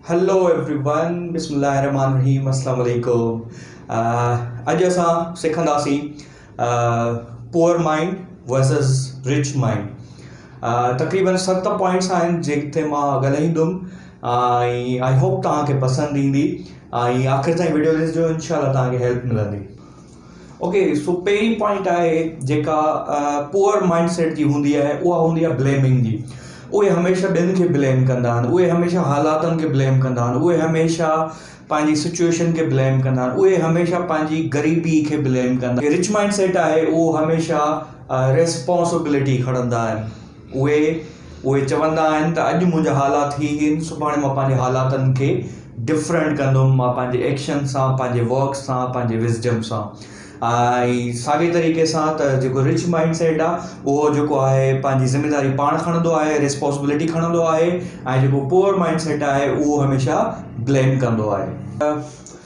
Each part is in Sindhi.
هلو ايوري ون بسم الله الرحمٰن الرحيم السلام عليڪم اڄ اسان سکنداسين poor mind versus rich mind تقريبن ست پوائنٽس آهن جتي مان ڳالهائيندم ۽ آئي هوپ توهان کي پسند ايندي ۽ آخر تائين ويڊيو ڏسجو انشاء الله توهان کي هيلپ ملندي اوڪي سو پهرين پوائنٽ آهي جيڪا پوئر مائنڊ سيٽ جي هوندي آهي اها هوندي آهي بليمنگ جي اهي هميشه ٻين کي بليم ڪندا آهن اهي هميشه حالاتن کي بليم ڪندا آهن اهي هميشه پنهنجي سچويشن کي بليم ڪندا آهن اهي هميشه پنهنجي غريبي کي بليم ڪندا رچ مائنڊ سيٽ آهي اهو هميشه ريسپانسبلٽي کڻندا آهن اهي اهي چوندا آهن ته اڄ منهنجا حالات هي هين سڀاڻي مان پنهنجي حالاتن کي ڊفرنٽ ڪندم مان پنهنجي ايڪشن سان پنهنجي ورڪ سان پنهنجي وزڊم سان ۽ ساڳي طريقي سان ته جيڪو رچ مائنڊ سيٽ آهي اهو جيڪو آهي پنهنجي ذميداري پاڻ کڻندو آهي ريسپوسبلٽي کڻندو آهي ۽ جيڪو پوئر مائنڊ سيٽ آهي اهو هميشه بليم ڪندو آهي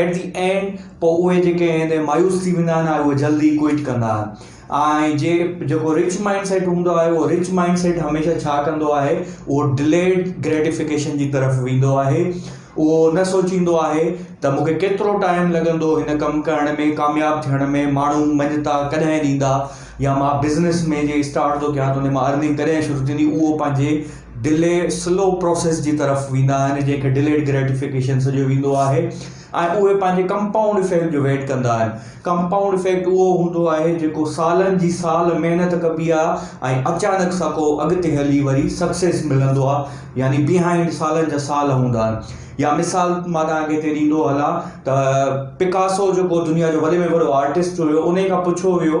ايٽ دي اينڊ پوء اهي جيڪي ائين تي مايوس ٿي ويندا آهن اهي جلدي ڪوئٽ ڪندا آهن ۽ جي جيڪو رچ مائنڊ سيٽ هوندو آهي اهو رچ مائنڊ سيٽ هميشه ڇا ڪندو آهي اهو ڊليڊ گريٽيفڪيشن جي طرف ويندو آهي اهو نه سوچيندو آهي ته مونکي ڪيترو ٽائيم لڳندو هن ڪم ڪرڻ ۾ ڪامياب ٿيڻ ۾ ماڻهو مڃتا ڪڏهن ڏيندا يا مان بزنس ۾ جي اسٽارٽ ٿو ڪيان ته ان مان ارننگ ڪڏهن شروع ٿيندي اهو پنهنجي ڊلي سلو پروسيس جي طرف ويندا آهن جنهن کي ڊليڊ گريٽيفڪيشن سڏيو ويندو آهي ۽ اهي پنهنجي ڪمپائونڊ افيڪٽ جو ويٽ ڪندا آهن ڪمپائونڊ افيڪٽ اهو هوندو آهي جيڪو سالن جي سال محنت ڪبي آهي ۽ اچانڪ سان ڪو اڳتي هلي وري سڪسيس ملندو آهي يعني بيهائنڊ سالن جا سال هوندا آهن يا مثال مان توهان کي هتي ڏيندو هلان ته پڪاسو جيڪو دنيا جو وڏي ۾ وڏو آرٽسٽ هيو ان کان پڇيو ويو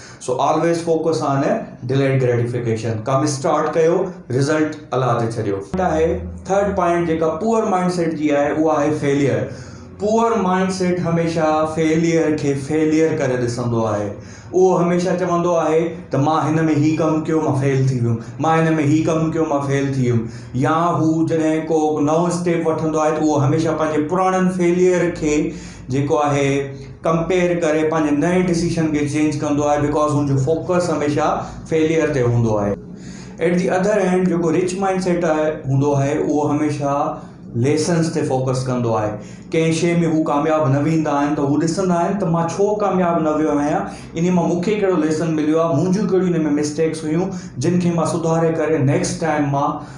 so always focus on delayed gratification ڪم اسٽارٽ ڪيو رزلٽ الله تي ڇڏيو. آهي ٿرڊ پوائنٽ جيڪا پوئر مائنڊ سيٽ جي آهي اها آهي فيليئر پوئر مائنڊ سيٽ هميشه فيليئر کي فيليئر ڪري ڏسندو آهي اهو هميشه چوندو آهي ته مان هن ۾ هي ڪم ڪيو مان فيل ٿي ويم مان هن ۾ هي ڪم ڪيو مان فيل ٿي ويم يا هو جڏهن ڪو نئون اسٽيپ وٺندو آهي ته اهو هميشه پنهنجي پراڻن فيليئر کي جيڪو آهي ڪمپيئر ڪري پنهنجي نئين ڊسيشن کي چينج ڪندو آهي بڪاز هن جو فوڪس هميشه فيليئر تي هوندو آهي ايٽ دي اڌر هينڊ جيڪو رچ مائنڊ سيٽ آهي هوندو آهي اهو هميشه ليسنس تي فوڪس ڪندو آهي ڪنهن شيء ۾ هو ڪامياب نه ويندا آهن ته هو ڏسندا آهن ته مان ڇو ڪامياب نه ويو آهيان ان مان مون کي ڪهڙو ليسن مليو آهي منهنجون ڪهڙيون ان ۾ مسٽيڪس هيون جن کي مان سڌاري ڪري نيڪسٽ ٽائيم مان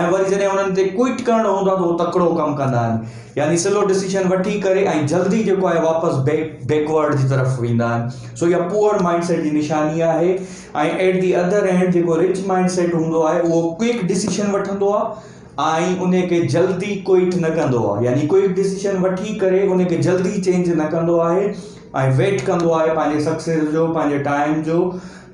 ۽ وري جڏهن انهن تي ڪوئٽ ڪرڻو هوندو آهي ته هو تڪڙو ڪم ڪندا آهن يعني سلو ڊسيشن وٺي ڪري ۽ جلدي جيڪو آهي واپس بيڪ بيڪورڊ جي طرف ويندا آهن سو اها پوئر مائنڊ سيٽ جي نشاني آهي ۽ ايٽ دي اڌر اينڊ جيڪو رچ مائنڊ سيٽ هوندو آهي اهو ڪوئڪ ڊسيشن وٺندو آهي ۽ ان کي جلدي ڪوئٽ نه ڪندو آهي يعني ڪوئڪ ڊسيشن وٺي ڪري ان کي جلدي چينج نه ڪندو آهي ۽ ويٽ ڪندو آهي پنهنجي سڪسيس جو پنهنجي ٽائيم جو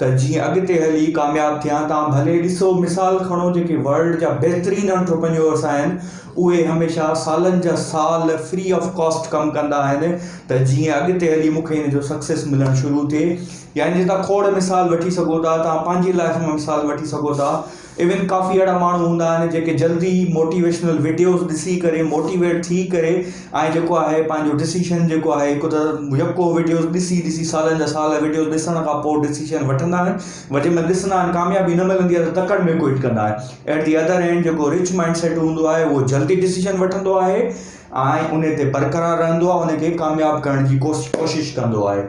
ته جيئن اڳتي هلي ڪامياب ٿيان توهان ڀلي ڏسو مثال کڻو جيڪي ورلڊ جا بهترين انٽرپرينيورس آهن اهي هميشه سالن جا سال فري آف ڪاسٽ ڪم ڪندا آهن ته جيئن اڳتي هلي مون کي ان جو سڪسيس ملڻ شروع ٿئي يعني جتان کوڙ مثال وٺي سگهو ٿا توهان پنهنجي لائيف مان مثال وٺي سگهو ٿا ايون ڪافي اهڙا ماڻهو هوندا آهن جيڪي جلدي ئي موٽيويشنل وڊيوز ڏسي ڪري موٽيويٽ ٿي ڪري ۽ جيڪو آهي پنهنجو ڊسيشن جيڪو آهي هڪ ته يڪو وڊيوز ڏسي ڏسي سالن جا سال وڊيوز ڏسڻ کان پوء ڊسيشن وٺندا آهن ور جنهن مهل ڏسندا آهن ڪاميابي نه ملندي آهي ته تڪڙ ۾ ڪوئٽ ڪندا آهن ايٽ دي اڌر اينڊ جيڪو رچ مائنڊ سيٽ هوندو آهي اهو جلدي ڊسيشن وٺندو آهي ۽ ان تي برقرار رهندو آهي ان کي ڪامياب ڪرڻ جي ڪوشش ڪندو آهي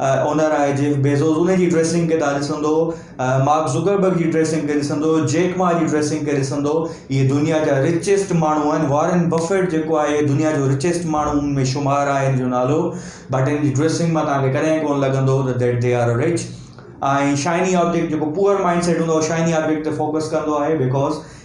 اونر آهي جيف بيزوز انهي جي ڊريسنگ کي تان ڏسندو مارڪ زوڪربرگ جي ڊريسنگ کي ڏسندو جيڪ ما جي ڊريسنگ کي ڏسندو اهي دنيا جا رچيسٽ ماڻهو آهن وارن بفيٽ جيڪو آهي دنيا جو رچيسٽ ماڻهو ۾ شمار آهي ان جو نالو بٽ ان جي ڊريسنگ مان تان کي ڪڏهن ڪون لڳندو ته that they are rich ۽ shiny object جيڪو پوئر مائنڊ سيٽ هوندو آهي شائني آبجيڪٽ تي فوڪس ڪندو آهي بڪاز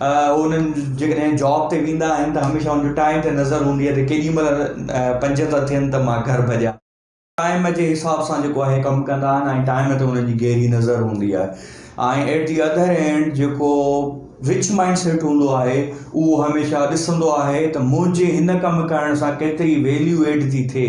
هو انهن جيڪڏهن جاب تي ويندا آهن ته هميشه هن جو ٽائيم تي نظر هوندي آهي ته ڪيڏي مهل پنج ٿا ٿين ته مان گهر ڀڄان. ٽائيم جي حساب سان جيڪو آهي ڪم ڪندا آهن ۽ ٽائيم تي انهن جي گهري نظر هوندي آهي ۽ ايٽ دي اڌر اينڊ جيڪو رچ مائنڊ سيٽ هوندو آهي اهو هميشه ڏسندو آهي ته منهنجي هن ڪم ڪرڻ سان ڪيتري ويليو ايڊ ٿي ٿئي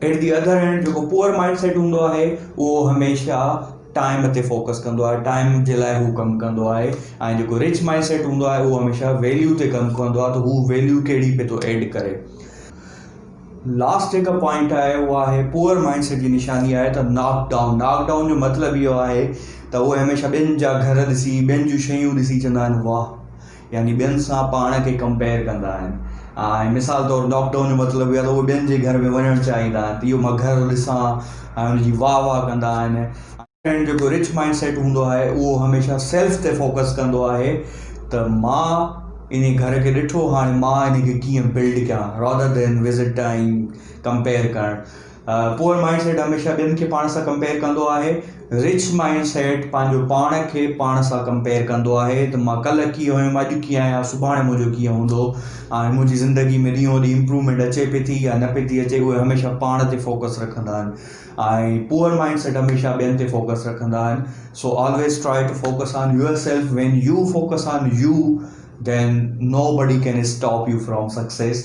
ايٽ دي اڌر هينڊ جيڪو پوئر مائنڊ سيٽ هوندو آهي اهو هميشه ٽائيم تي فوڪس ڪندو آهي ٽائيم جي لاء هو ڪم ڪندو آهي ۽ جيڪو رچ مائنڊ سيٽ هوندو آهي اهو هميشه ويليو تي ڪم ڪندو آهي ته هو ويليو ڪهڙي پي ٿو ايڊ ڪري لاسٽ جيڪا پوائنٽ آهي اهو آهي پوئر مائنڊ سيٽ جي نشاني آهي ته ناڪ ڊائون ناڪ ڊائون جو مطلب اهو آهي ته اهو هميشه ٻين جا گهر ڏسي ٻين جون شيون ڏسي چوندا آهن واهه يعني ٻين سان پاڻ کي ڪمپيئر ڪندا آهن ۽ مثال طور ناڪ ڊائون جو مطلب اهو آهي ته اهو ٻين جي گهر ۾ وڃڻ چاهيندا آهن ته اهو مان گهر ڏسان ۽ ان جي واهه واهه ڪندا آهن. ۽ جيڪو رچ مائنڊ سيٽ هوندو آهي اهو هميشه سيلف تي فوڪس ڪندو آهي ته مان انهي گهر کي ڏٺو هاڻي مان انهي کي ڪيئن بلڊ ڪيان رادر دين وزٽ ۽ ڪمپيئر ڪرڻ. پوئر مائنڊ سيٽ هميشه ٻين کي پاڻ سان ڪمپيئر ڪندو آهي رچ مائنڊ سيٽ پنهنجو پاڻ کي پاڻ سان ڪمپيئر ڪندو آهي ته مان ڪلهه ڪيئن هيم اڄ ڪيئن آهيان سڀاڻي منهنجو ڪيئن هوندو ۽ منهنجي زندگي ۾ ڏينهون ڏينهن امپرومينٽ اچي پئي ٿي يا نه پئي ٿي اچي اهي هميشه پاڻ تي فوڪس رکندا آهن ۽ پوئر مائنڊ سيٽ هميشه ٻين تي فوڪس رکندا آهن so always try to focus on yourself when you focus on you then nobody can stop you from success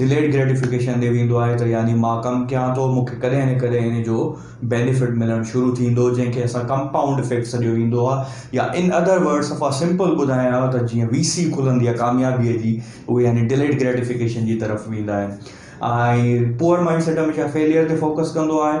delayed gratification ڏي ويندو آهي ته يعني مان ڪم ڪيان ٿو مون کي ڪڏهن نه ڪڏهن ان جو بينيفٽ ملڻ شروع ٿيندو جنهن کي اسان ڪمپائونڊ افيڪٽ سڏيو ويندو آهي يا ان ادر ورڊ صفا سمپل ٻڌايان ته جيئن وي سي کلندي آهي ڪاميابي جي اهي يعني ڊليڊ گريٽيفڪيشن جي طرف ويندا آهن ۽ پوئر مائنڊ سيٽ هميشه فيليئر تي فوڪس ڪندو آهي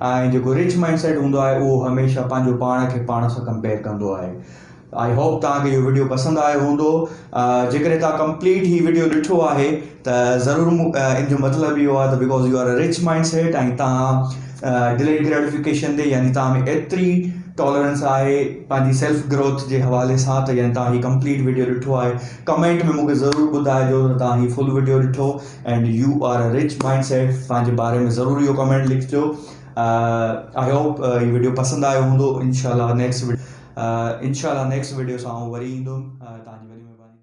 ۽ جيڪو رچ مائنڊ سيٽ هوندو آهي اهو هميشه پنهنجو پاڻ کي پاڻ سان ڪمپيئر ڪندو آهي آئي هوپ توهان کي اهو ويڊيو پسند آيو هوندو جيڪڏهن توهان ڪمپليٽ هي ويڊيو ڏٺو آهي ته ضرور ان جو مطلب اهو آهي ته because you are rich mindset ۽ توهان ڊليٽ گريٽيفڪيشن تي يعني توهان ۾ ايتري ٽالرنس آهي پنهنجي سيلف گروٿ جي حوالي سان ته يعني توهان هي ڪمپليٽ ويڊيو ڏٺو آهي ڪمينٽ ۾ مونکي ضرور ٻڌائجو ته توهان هي فل ويڊيو ڏٺو and you are a rich mindset پنهنجي باري ۾ ضرور اهو ڪمينٽ لکجو آئي هوپ هي ويڊيو پسند آيو هوندو انشاءالله نيڪسٽ انشاءالله نيڪسٽ ويڊيو سان آئون وري ايندم تنهنجي وڏي مهرباني